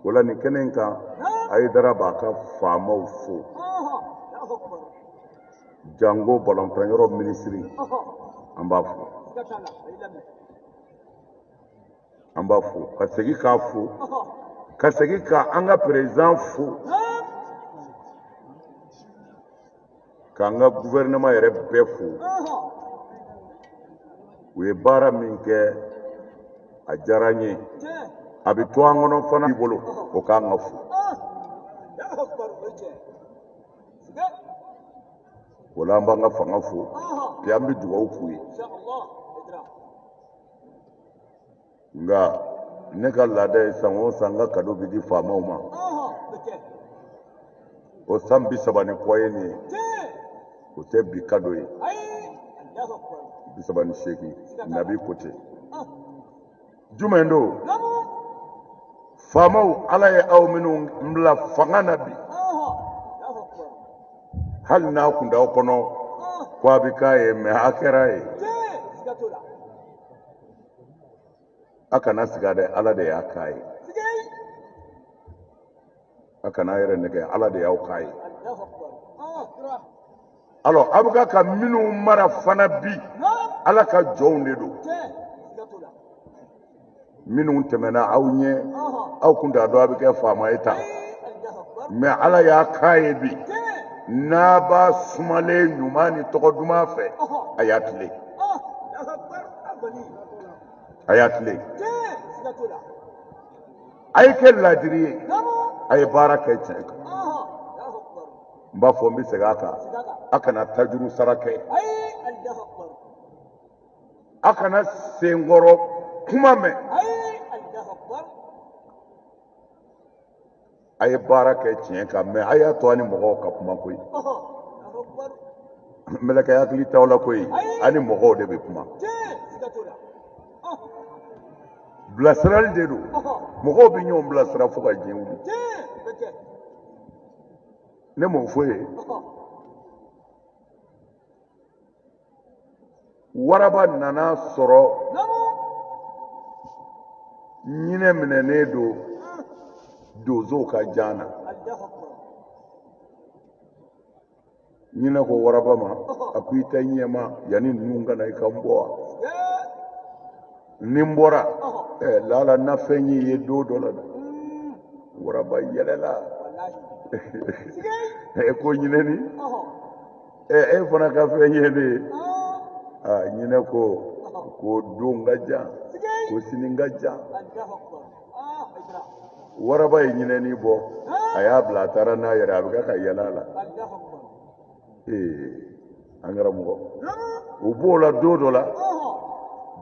wala nin kɛnɛ in kan hayidara b'a ka faamaw fo jango balontan yɔrɔ minisiri an b'a fo an b'a fo ka segin k'a fo ka segin ka an ka perezidan fo k'an ka guvɛrɛnɛman yɛrɛ bɛɛ fo u ye baara min kɛ a diyara n ye a bɛ to an kɔnɔ fana bolo o k'an ka fo o la an b'an ka fanga fo bi an bɛ dugawu k'u ye nka ne ka laada ye san o san n ka kado bɛ di faamaw ma o san bi saba ni kɔ ye nin ye o tɛ bi kado ye bi saba ni seeginnan bi ko ten jumɛn don faamaw ala ye aw minnu bila fanga na bi hali n'a kun t'aw kɔnɔ ko a bɛ k'a ye mɛ a kɛra ye a kana siga dɛ ala de y'a k'a ye a kan'a yɛrɛ nɛgɛn ala de y'aw k'a ye alors a bɛ ka ka minnu mara fana bi ala ka jɔnw de don minnu tɛmɛna aw ɲɛ aw kun t'a dɔn a bɛ kɛ faama ye tan mɛ ala y'a k'a ye bi n'a b'a sumalen ɲuman ni tɔgɔ duman fɛ a y'a tile a y'a tile a ye kɛ laadiri ye a ye baara kɛ tiɲɛ kan n b'a fɔ n bɛ segin a kan a kana tajuru sara kɛ a kana senkɔrɔ kuma mɛn a ye baara kɛ tiɲɛ kan mɛ a y'a to a ni mɔgɔw ka kuma koyi mɛlɛkɛ hakili t'aw la koyi a ni mɔgɔw de bɛ kuma bilasirali de don mɔgɔw bɛ ɲɔgɔn bilasira fo ka diɲɛ wuli ne m'o fɔ ye waraba nan'a sɔrɔ ɲinɛ minɛnen don donsow ka jan na ɲinɛ ko waraba ma a ko i tɛ ɲɛ n ma yanni ninnu ka na i ka n bɔ wa ni n bɔra ɛɛ laala n na fɛn ɲ'i ye don dɔ la dɛ waraba yɛlɛla ko ɲinɛni ɛ e fana ka fɛn ɲɛ ne ye ɲinɛ ko ko don ka jan ko sini ka jan waraba ye ɲinɛni bɔ a y'a bila a taara n'a yɛrɛ a bɛ kɛ ka yɛlɛ a la ee an karamɔgɔ u b'o la don dɔ la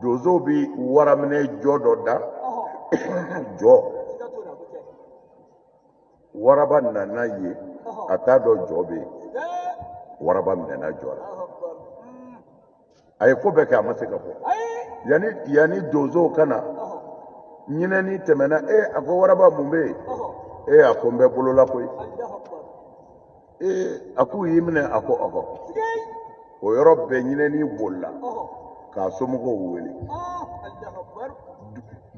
donsow bɛ waraminɛ jɔ dɔ da jɔ waraba nana yen a t'a dɔn jɔ bɛ yen waraba minɛna jɔ la a ye ko bɛɛ kɛ a ma se ka bɔ yanni yanni donsow ka na ɲinɛni tɛmɛna e a ko waraba mun bɛ yen e a ko n bɛ bolo la koyi ee a k'u y'i minɛ a ko ɔhɔ o yɔrɔ bɛɛ ɲinɛni bolila k'a somɔgɔw wele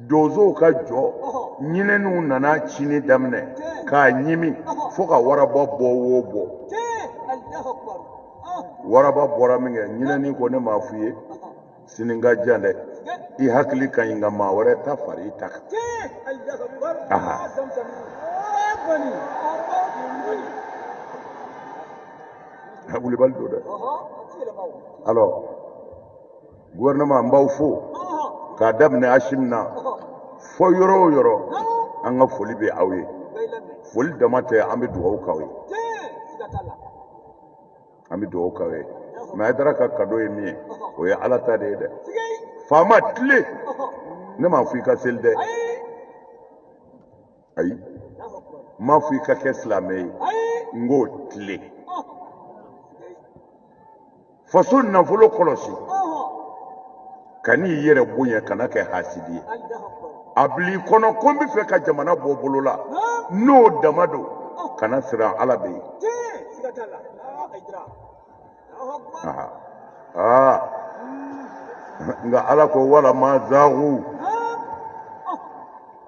donsow ka jɔ ɲinɛniw nana cinni daminɛ k'a ɲimi fo ka waraba bɔ wo bɔ waraba bɔra minkɛ ɲinɛni ko ne m'a f'i ye sini ka jan dɛ i hakili ka ɲi nka maa wɛrɛ ta fara i ta kan a wulibali don dɛ alors gouvernement n b'aw fo k'a daminɛ asimi na fo yɔrɔ o yɔrɔ an ka foli bɛ aw ye foli dama tɛ an bɛ dugawu k'aw ye an bɛ dugawu k'aw ye mais ayidara ka cadeau ye min ye o ye ala ta de ye dɛ faama tilen ne m'a fɔ i ka seli dɛ ayi n m'a fɔ i ka kɛ silamɛ ye n ko tilen faso nafolo kɔlɔsi kan'i yɛrɛ bonya kana kɛ hasidi ye a bil'i kɔnɔ ko n bɛ fɛ ka jamana bɔ bolo la n'o dama don kana siran ala bɛ yen nka ala ko walamma zaagu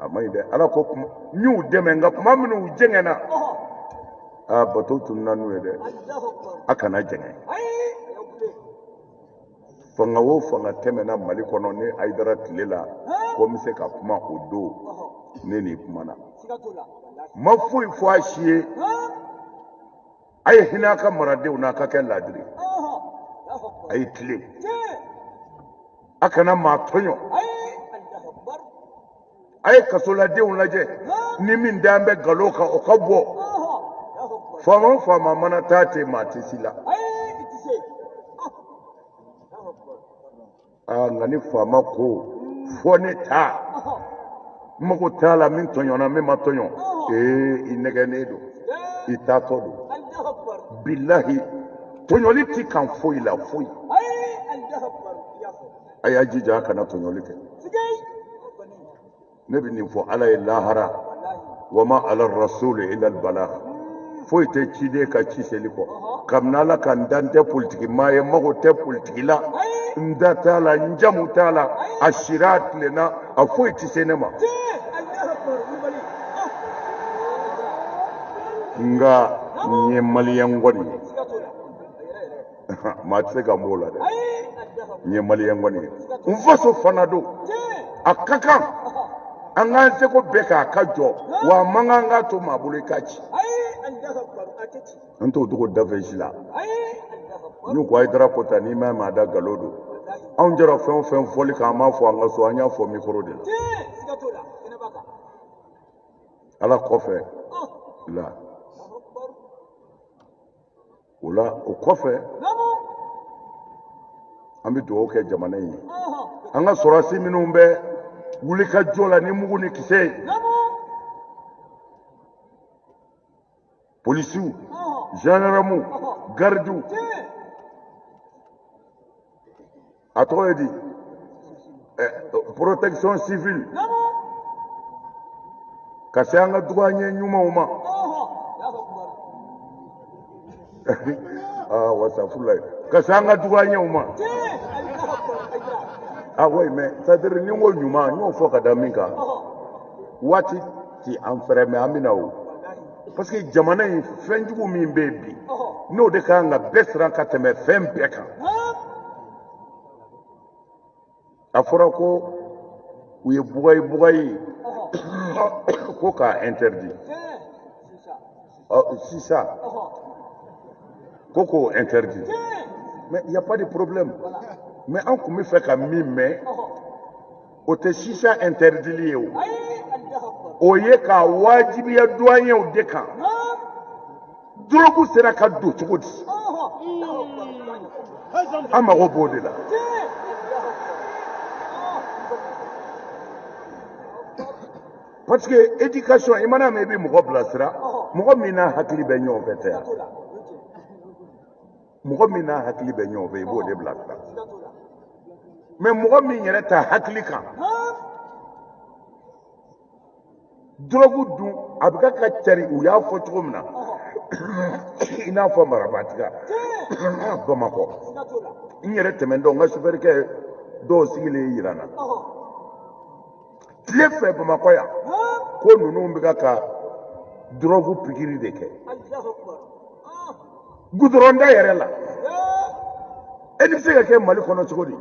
a man ɲi dɛ ala ko n y'u dɛmɛ nka kuma min u jɛngɛnna aa bato tununna n'u ye dɛ a kana jɛngɛn fanga o fanga tɛmɛna mali kɔnɔ ne ayidara tile la ko n bɛ se ka kuma o don ne ni n kumana n ma foyi fɔ a si ye a ye hinɛ a ka maradenw na a ka kɛ laadiri a ye tilen a kana maa tɔɲɔ a ye kasoladenw lajɛ ni min dan bɛ galo kan o ka bɔ faama o faama mana taa ten maa tɛ si la aa nka ni faama ko fɔ ne ta n mago t'a la min tɔɲɔna min ma tɔɲɔ ee i nɛgɛnnen don i taatɔ don bilahi tɔɲɔli t'i kan foyi la foyi a y'a jija a kana tɔɲɔli kɛ ne bɛ nin fɔ ala ye lahara wa ma ala rasul ila balag foyi tɛ ciden kan ci seli kɔ kabini ala ka n dan n tɛ politiki maa ye n mago tɛ politiki la n da t'a la n jamu t'a la a sira a tilenna a foyi tɛ se ne ma nka n ye maliyɛn kɔni ye maa tɛ se ka n b'o la dɛ n ye maliyɛn kɔni ye n faso fana don a ka kan an k'an seko bɛɛ kɛ a ka jɔ wa a man kan k'a to maa bolo i k'a ci an t'o dogo danfɛn si la n'u ko a ye darapo ta n'i ma maa da galo don anw jɛra fɛn o fɛn fɔli kan an m'a fɔ an ka so an y'a fɔ mikoro de la ala kɔfɛ la o la o kɔfɛ an bɛ dugawu kɛ jamana in ye an ka sɔrɔdasi minnu bɛ wulikajɔ la ni mugu ni kisɛ ye polisiw zandarmu garidiw a tɔgɔ ye di protection civile ka se an ka duwanye ɲumanw ma astafurula ka se an ka duwanyew ma ah oui mais c'est à dire ni n ko ɲuman n y'o fɔ ka da min kan waati ti an fɛ dɛ mais an bɛna o parce que jamana in fɛn jugu min bɛ yen bi n'o de ka kan ka bɛɛ siran ka tɛmɛ fɛn bɛɛ kan a fɔra ko u ye bugayi bugayi ko k'a interdit sisa ko k'o interdit mais il y a pas de problème mais an tun bɛ fɛ ka min mɛn o tɛ sisa interdili ye o o ye k'a wajibiya duwanyew de kan dorogu sera ka don cogo di an mago b'o de la parce que éducation i man'a mɛn i bɛ mɔgɔ bilasira mɔgɔ min n'a hakili bɛ ɲɔgɔn fɛ tɛ yan mɔgɔ min n'a hakili bɛ ɲɔgɔn fɛ i b'o de bila sira mais mɔgɔ min yɛrɛ t'a hakili kan dɔrɔgu dun a bɛ ka ka cari u y'a fɔ cogo min na i n'a fɔ marabatiga bamakɔ n yɛrɛ tɛmɛntɔ n ka sofɛrikɛ dɔw sigilen jira n na tile fɛ bamakɔ yan ko ninnu bɛ ka ka dɔrɔgu pikiri de kɛ gudɔrɔnda yɛrɛ la e nin bɛ se ka kɛ mali kɔnɔ cogo di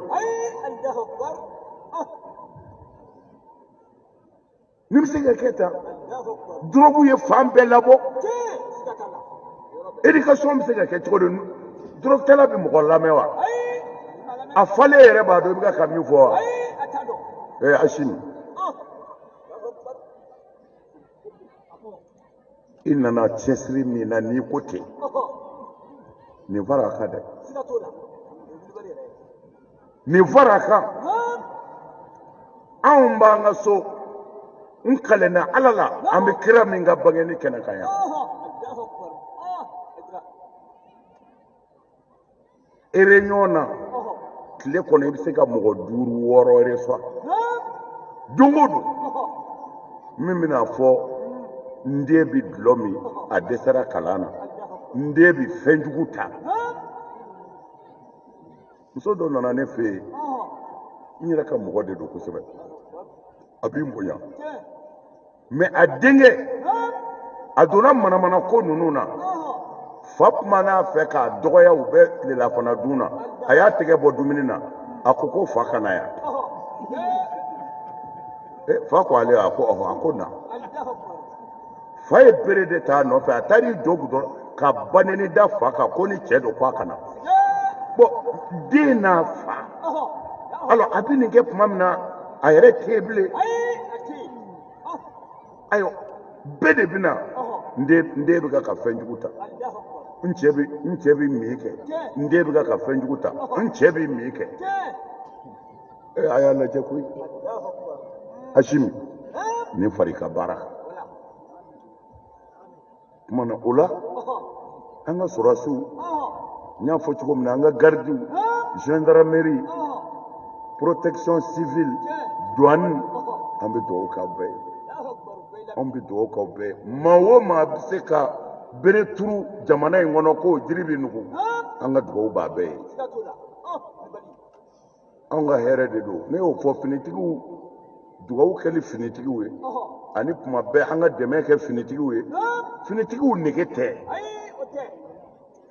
nin bɛ se ka kɛ tan dɔrɔgu ye fan bɛɛ labɔ éducation bɛ se ka kɛ cogo di dɔrɔgutala bɛ mɔgɔ lamɛn wa a falen yɛrɛ b'a dɔn i bɛ ka ka min fɔ wa ee asimi i nana cɛsiri min na n'i ko ten nin fara a kan dɛ nin far'a kan anw b'an ka so n kalenna ala la an bɛ kira min ka bangeni kɛnɛ kan yan ereɲɔgɔn na tile kɔnɔ i bɛ se ka mɔgɔ duuru wɔɔrɔ recevoir don o don min bɛna a fɔ n den bɛ dulɔ min a dɛsɛra kalan na n den bɛ fɛn jugu ta muso dɔ nana ne fɛ n yɛrɛ ka mɔgɔ de don kosɛbɛ a bɛ n bonya mais a denkɛ a donna manamana ko ninnu na fa kuman'a fɛ k'a dɔgɔya u bɛ tilelafana dun na a y'a tɛgɛ bɔ dumuni na a ko ko fa ka na yan fa ko ale a ko ɔhɔ a ko na fa ye bere de t'a nɔfɛ a taar'i jɔ gudɔrɔn ka banɛni da fa kan ko ni cɛ don ko a ka na bon den n'a fa alors a bɛ nin kɛ tuma min na a yɛrɛ tɛ bilen ayiwa bɛɛ de bɛ na n den n den bɛ ka fɛn jugu ta n cɛ bɛ n cɛ bɛ min kɛ n den bɛ ka fɛn jugu ta n cɛ bɛ min kɛ. Eh, a y'a lajɛ koyi asimi nin far'i ka baara kuma na o la an ka sɔrɔdasiw n y'a fɔ cogo min na an ka garidiw gendarmerie protection civile douane an bɛ dugawu k'aw bɛɛ ye anw bɛ dugawu k'aw bɛɛ ye maa o maa bɛ se ka bere turu jamana in kɔnɔ k'o jiri bɛ nugu an ka dugawu b'a bɛɛ ye anw ka hɛrɛ de don ne y'o fɔ finitigiw dugawu kɛli finitigiw ye ani kuma bɛɛ an ka dɛmɛ kɛ finitigiw ye finitigiw nege tɛ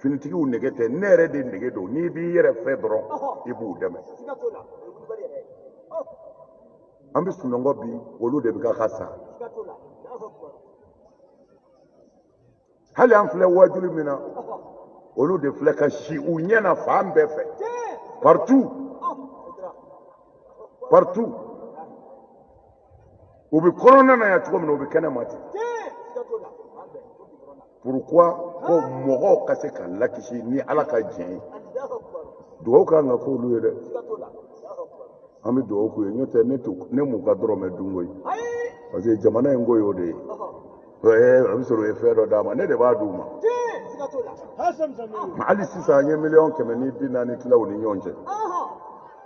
finitigiw nege tɛ ne yɛrɛ de nege don n'i b'i yɛrɛ fɛ dɔrɔn i b'u dɛmɛ an bɛ sunɔgɔ bi olu de bɛ ka ka sa hali an filɛ wajuli min na olu de filɛ ka si u ɲɛ na fan bɛɛ fɛ partout partout u bɛ kɔnɔna na yan cogo min na u bɛ kɛnɛ ma ten pourquoi ko mɔgɔw ka se ka lakisi ni ala ka diɲɛ ye dugawu kan ka k'olu ye dɛ an bɛ dugawu k'u ye n'o tɛ ne m'u ka dɔrɔmɛ dun koyi parce que jamana in ko y'o de ye. a bɛ sɔrɔ u ye fɛn dɔ d'a ma ne de b'a d'u ma hali sisan an ye miliyɔn kɛmɛ ni bi naani tila u ni ɲɔgɔn cɛ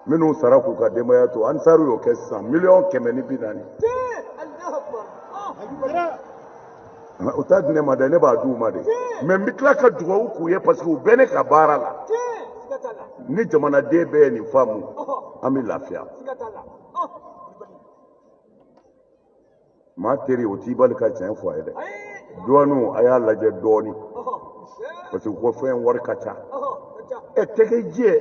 minnu sara k'u ka denbaya to ansaru y'o kɛ sisan miliyɔn kɛmɛ ni bi naani u t'a di ne ma dɛ ne b'a d'u ma de mais n bɛ tila ka dugawu k'u ye parce que u bɛ ne ka baara la ni jamanaden bɛɛ ye nin faamu an bɛ lafiya maa teri o t'i bali ka tiɲɛ fɔ a ye dɛ duwaniw a y'a lajɛ dɔɔnin parce que ko fɛn wari ka ca e tɛgɛ jɛ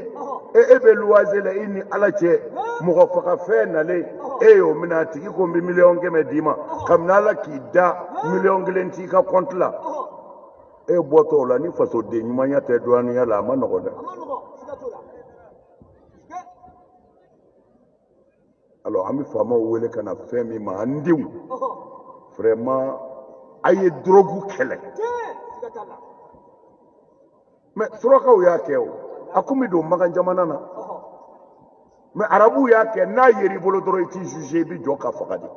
e e bɛ luwanse la i ni ala cɛ mɔgɔ faga fɛn nalen e y'o minɛ a tigi ko n bɛ miliyɔn kɛmɛ d'i ma kabini ala k'i da miliyɔn kelen t'i ka kɔnti la e bɔtɔ o la ni fasoden ɲumanya tɛ duwaniya la a ma nɔgɔn dɛ alors an bɛ faamaw wele ka na fɛn min ma an denw vraiment a ye dɔrɔgu kɛlɛ mais surakaw y'a kɛ o a kun bɛ don makan jamana na mais arabuw y'a kɛ n'a yer'i bolo dɔrɔn i tɛ juge i bɛ jɔ ka faga de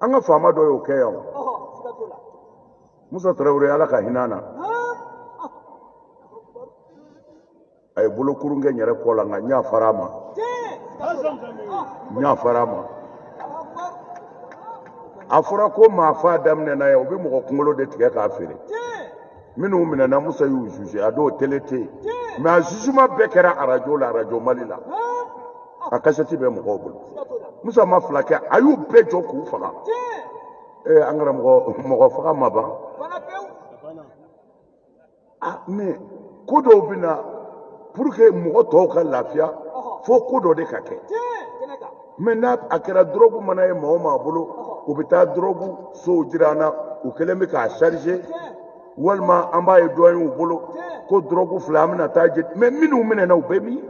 an ka faama dɔ y'o kɛ yan musa tarawele ala ka hinɛ a na a ye bolokurun kɛ n yɛrɛ kɔ la nka n yafara a ma n yafara a ma a fɔra ko maa faa daminɛna yan u bɛ mɔgɔ kunkolo de tigɛ k'a feere minnu minɛna musa y'u juge a donw tele tɛ yen mais a jugement bɛɛ kɛra arajo la arajo mali la a kasɛti bɛ mɔgɔw bolo musa ma fila kɛ a y'u bɛɛ jɔ k'u faga ee an karamɔgɔ mɔgɔ faga ma ban ah mais ko dɔw bɛ na pour que mɔgɔ tɔw ka lafiya fo ko dɔ de ka kɛ mais n'a a kɛra dɔrɔgu mana ye maa o maa bolo u bɛ taa dɔrɔgu sow jira an na u kɛlen bɛ k'a charger walima an b'a ye douanew bolo ko dɔrɔgu filɛ an bɛna taa jeni mais minnu minɛna u bɛ min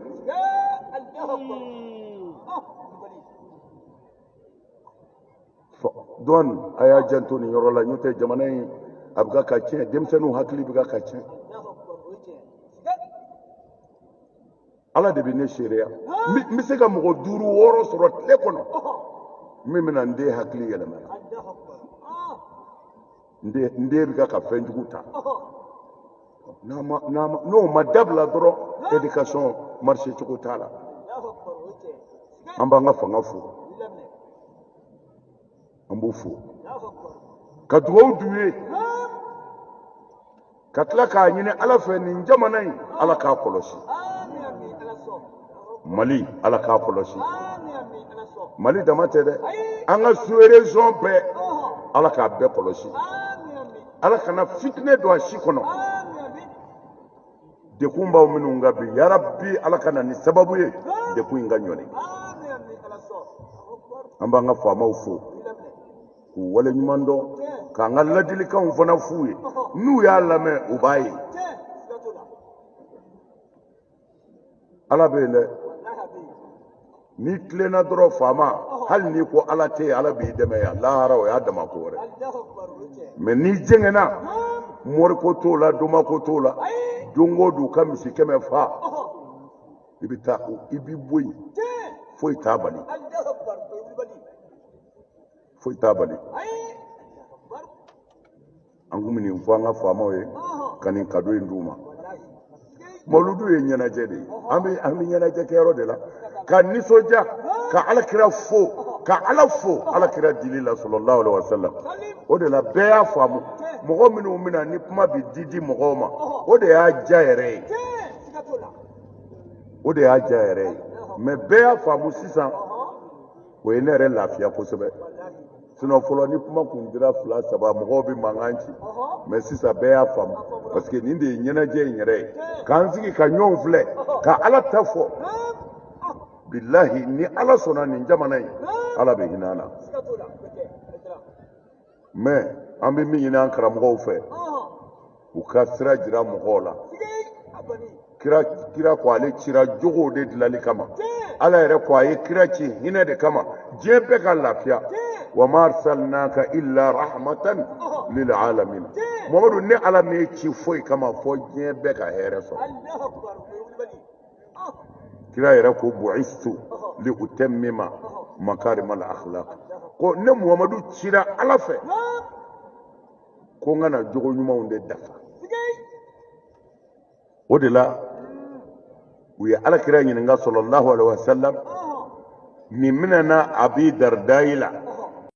douane a y'a janto nin yɔrɔ la n'o tɛ jamana in a bɛ ka tiɲɛ denmisɛnninw hakili bɛ ka tiɲɛ ala de bɛ ne seereya n bɛ se ka mɔgɔ duuru wɔɔrɔ sɔrɔ tile kɔnɔ min bɛna n den hakili yɛlɛma n den n den bɛ ka ka fɛn jugu ta n'a ma n'a ma n'o ma dabila dɔrɔn éducation marché cogo t'a la an b'an ka fanga fo an b'u fo ka dugawu d'u ye ka tila k'a ɲini ala fɛ nin jamana in ala k'a kɔlɔsi mali ala k'a kɔlɔsi mali dama tɛ dɛ an ka sous-région bɛɛ ala k'a bɛɛ kɔlɔsi ala kana fitinɛ don a si kɔnɔ dekunbaw minnu an kan bi yarabi ala ka na ni sababu ye dekun in ka ɲɔni an b'an ka faamaw fo k'u waleɲuman dɔn k'an ka ladilikanw fana f'u ye n'u y'a lamɛn u b'a ye ala bɛ yen dɛ n'i tilenna dɔrɔn faama hali n'i ko ala tɛ yen ala b'i dɛmɛ yan lahara o y'a dama ko wɛrɛ mais n'i jɛngɛnna moriko t'o la domako t'o la don o don ka misi kɛmɛ fa i bɛ taa i b'i bɔ yen foyi t'a bali foyi t'a bali an kun bɛ nin fɔ an ka faamaw ye ka nin kado in d'u ma mawuludu ye ɲɛnajɛ de ye an bɛ an bɛ ɲɛnajɛ kɛyɔrɔ de la ka nisɔndiya ka alakira fo ka ala fo alakira dili la sallallahu alaihi wasallam o de la bɛɛ y'a faamu mɔgɔ minnu bɛna ni kuma bɛ di di mɔgɔw ma o de y'a diya yɛrɛ ye o de y'a diya yɛrɛ ye mais bɛɛ y'a faamu sisan o ye ne yɛrɛ lafiya kosɛbɛ sinon fɔlɔ ni kuma kun dira fila saba mɔgɔw bɛ mankan ci mais sisan bɛɛ y'a faamu parce que nin de ye ɲɛnajɛ in yɛrɛ ye k'an sigi ka ɲɔgɔn filɛ ka ala ta fɔ bilahi ni ala sɔnna nin jamana in ala bɛ hinɛ an na mɛ an bɛ min ɲini an karamɔgɔw fɛ u ka sira jira mɔgɔw la kira ko ale cira jogow de dilali kama ala yɛrɛ ko a ye kira ci hinɛ de kama diɲɛ bɛɛ ka lafiya wa ma arsalnaka illa rahmatan lil alamin mamadu ne ala m'e ci foyi kama fo diɲɛ bɛɛ ka hɛrɛ sɔrɔ kira yɛrɛ ko bu'istu li utammima makarimal akhlaq ko ne muhamadu cira ala fɛ ko n ka na jogo ɲumanw de dafa o de la u ye ala kira ɲininka sallallahu alaihi wasallam nin minɛna abi dardayi la